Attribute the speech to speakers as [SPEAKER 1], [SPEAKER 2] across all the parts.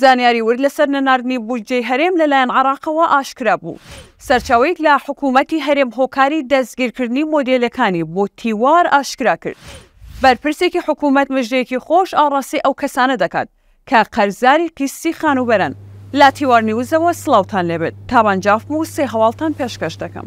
[SPEAKER 1] زانیاری ورد لەسەر نەناردنی بودجەی هەرێم لەلایەن عێراقەوە ئاشکرا بوو، سەرچاوەیەک لە حکوومەتی هەرێم هۆکاری دەستگیرکردنی مۆدێلەکانی بۆ تیوار ئاشکرا کرد. بەرپرسێکی حکوومەت مژدەیەکی خۆش ئاڕاستەی ئەو کەسانە دەکات کە قەرزاری قیستی خانووبەرەن. لە تیوار نیوزەوە سڵاوتان لێبێت، تابان جافم و سێ هەواڵتان پێشکەش دەکەم.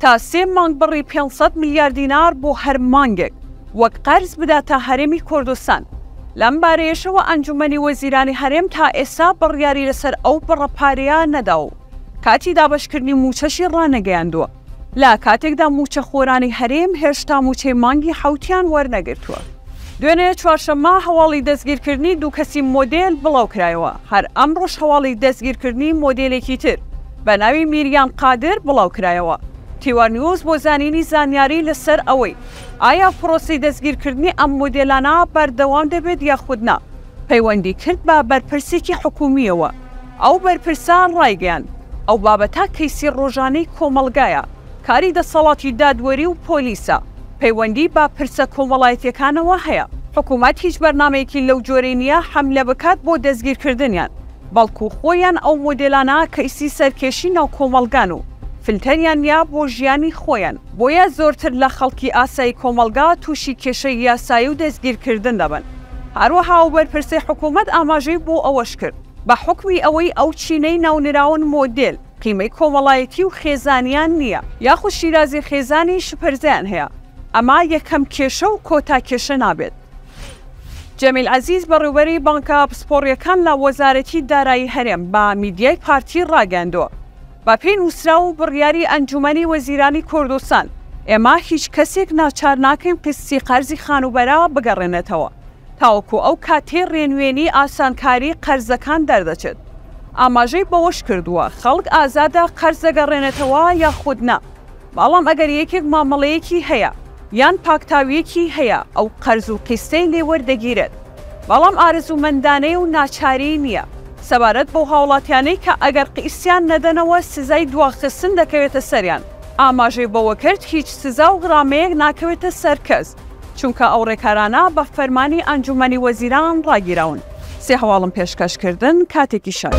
[SPEAKER 1] تا سێ مانگ بڕی پێنج سەد ملیار دینار بۆ هەر مانگێک وەک قەرز بداتە هەرێمی کوردستان. لەم بارەیەشەوە ئەنجوومەنی وەزیرانی هەرێم تا ئێستا بڕیاری لەسەر ئەو بڕە پارەیە نەدا و کاتی دابەشکردنی مووچەشی ڕانەگەیاندووە، لە کاتێکدا مووچەخۆرانی هەرێم هێشتا مووچەی مانگی حەوتیان وەرنەگرتووە. دوێنێ چوارشەممە هەواڵی دەستگیرکردنی دوو کەسی مۆدێل بڵاوکرایەوە، هەر ئەمڕۆش هەواڵی دەستگیرکردنی مۆدێلێکی تر بە ناوی میریان قادر بڵاوکرایەوە. تیوا نیوز بۆ زانینی زانیاری لەسەر ئەوەی ئایا پرۆسەی دەستگیرکردنی ئەم مۆدێلانە بەردەوام دەبێت یاخود نا، پەیوەندی کرد بە بەرپرسێکی حکوومییەوە، ئەو بەرپرسە ڕایگەیاند، ئەو بابەتە کەیسی ڕۆژانەی کۆمەڵگایە، کاری دەسەڵاتی دادوەری و پۆلیسە، پەیوەندی بە پرسە کۆمەڵایەتیەکانەوە هەیە، حکومەت هیچ بەرنامەیەکی لەو جۆرەی نیە حەملە بکات بۆ دەستگیرکردنیان، بەڵکو خۆیان ئەو مۆدێلانە کەیسی سەرکێشی ناو کۆمەڵگان و فلتەریان نیە بۆ ژیانی خۆیان، بۆیە زۆرتر لە خەڵکی ئاسایی کۆمەڵگا توشی کێشەی یاسایی و دەستگیرکردن دەبن، هەروەها ئەو بەرپرسەی حکومەت ئاماژەی بۆ ئەوەش کرد، بە حوکمی ئەوەی ئەو چینەی ناونراون مۆدێل، قیمەی کۆمەڵایەتی و خێزانیان نییە، یاخود شیرازی خێزانی شپرزەیان هەیە، ئەمە یەکەم کێشە و کۆتا کێشە نابێت. جەمیل عەزیز بەڕێوبەری بانکە پسپۆڕییەکان لە وەزارەتی دارایی هەرێم بە میدیای پارتی راگەیاندووە، بەپێی نووسراو و بڕیاری ئەنجوومەنی وەزیرانی کوردستان ئێمە هیچ کەسێک ناچار ناکەین قیستی قەرزی خانووبەرە بگەڕێنێتەوە، تاوەکو ئەو کاتەی ڕێنوێنیی ئاسانکاریی قەرزەکان دەردەچێت. ئاماژەی بەوەشکردووە، خەڵک ئازادە قەرز دەگەڕێنێتەوە یاخود نا، بەڵام ئەگەر یەکێک مامەڵەیەکی هەیە یان پاکتاوییەکی هەیە ئەو قەرز و قیستەی لێ وەردەگیرێت، بەڵام ئارەزوومەندانەیە و ناچاریی نییە. سەبارەت بەو هاوڵاتیانەی کە ئەگەر قیستیان نەدەنەوە سزای دواخستن دەکەوێتە سەریان، ئاماژەی بەوەکرد، هیچ سزا و غرامەیەک ناکەوێتە سەر کەس، چونکە ئەو ڕێکارانە بە فەرمانی ئەنجوومەنی وەزیران ڕاگیراون. سێ هەواڵم پێشکەش کردن، کاتێکی شەش.